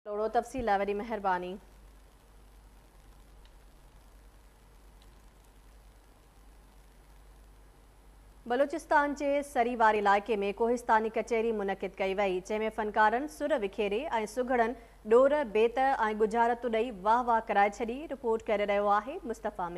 ٿورو تفصيل لاء وڏي مهرباني. بلوچستان جي سري واري علائقي ۾ ڪوهستاني ڪچهري منعقد ڪئي وئي جنهن ۾ فنڪارن سر وکيري ۽ سگهڙن ڏور بيت ۽ ڳجهارتون ڏئي واهه واهه ڪرائي ڇڏي رپورٽ ڪيري رهيو آهي مصطفيٰ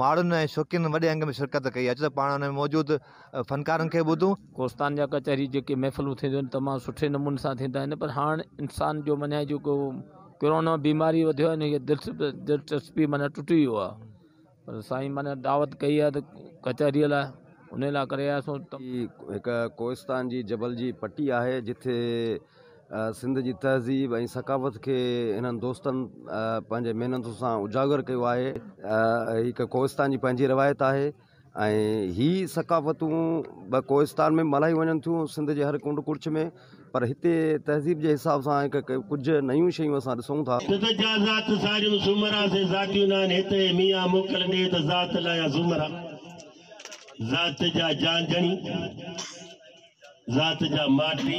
ماڻهن ۽ شوقينن وڏي انگ ۾ شرڪت ڪئي. اچ ته پاڻ ان ۾ موجود فنڪارن کي ٻڌون. ڪوستان جا ڪچهري جيڪي محفلون ٿينديون آهن تمام سٺي نموني سان ٿيندا آهن پر هاڻ انسان جو مڃاي جيڪو ڪرونا بيماري وڌيو آهي انهيء دلچسپي معنيٰ ٽٽي ويو آهي پر سائين معنيٰ دعوت ڪئي آهي ته ڪچهري لاء انهي لاء ڪري آيا سون. هيء هڪ ڪوستان جي جبل جي پٽي آهي جتي. سنڌ جي تهذيب ۽ ثقافت کي هنن دوستن پنهنجي محنتن سان اجاگر ڪيو آهي. هڪ ڪوهستان جي پنهنجي روايت آهي ۽ هي ثقافتون به ڪوهستان ۾ به ملهائيون وڃن ٿيون سنڌ جي هر ڪنڊ ڪڙڇ ۾ پر هتي تهذيب جي حساب سان هڪ هڪ ڪجهه نيون شيون اسان ڏسون ٿا. سنڌ جا ذات ساريون سومرا سي ذاتيون نه آهن هتي ميان موڪل ڏي ته ذات لايا سومرا ذات جا جانجڻي. ذات جا ماٽي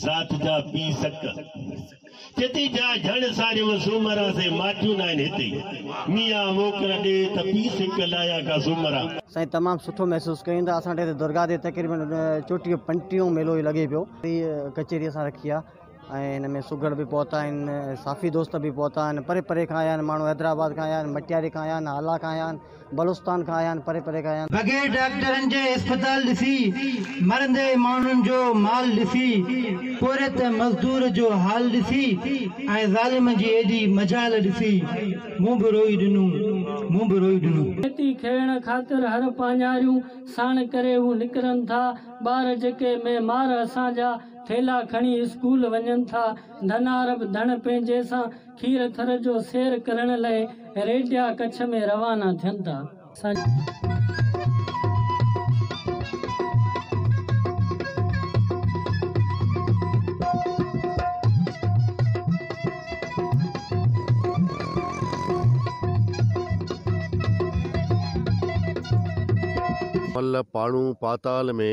ذات جا پي سڪ چتي جا جھن ساري و سومرا سي ماٽيو نائن ہتي ميا ووکر ڏي ته پي سڪ لايا کا سومرا سائين تمام سٺو محسوس ڪيون ته اسان ٽي درگاهه تي تقريبن چوٽيهه پنٽيهه ميلو لڳي پيو ڪچهري اسان رکي آ ۽ هن ۾ سگهڙ به پهتا آهن صافي دوست به پهتا آهن پري پري کان آيا آهن ماڻهو حيدرآباد کان آيا آهن مٽياري کان آيا آهن هالا کان آيا آهن بلوچستان کان آيا آهن پري پري کان آيا آهن. بغير ڊاڪٽرن جي اسپتال ڏسي مرندي ماڻهن جو مال ڏسي پورهيت مزدور جو حال ڏسي ۽ ظالم جي ايڏي مجال ڏسي مون به روئي ڏنو مون به روئي ڏنو. کيتي کيڙڻ خاطر هر پاڃاريون ساڻ ڪري هو نڪرن ٿا ٻار جيڪي مي مار اسان جا. ٿيلها کڻي اسڪول وڃن ٿا. ڌنار به ڌڻ پنهنجي سان کير ٿر جو سير ڪرڻ لئه ريڊيا ڪڇ ۾ روانا ٿين ٿا. ملهه پاڻو پاتال ۾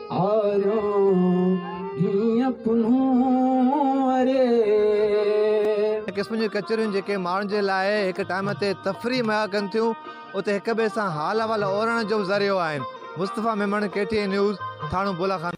هن قسم جون ڪچهريون جيڪي ماڻهن جي لاء هڪ ٽائيم تي تفريح مهيا ڪن ٿيون اتي هڪ ٻئي سان حال احوال اورڻ جو به ذريعو آهن Mustafa Memon K T N news Thano بولاخانو.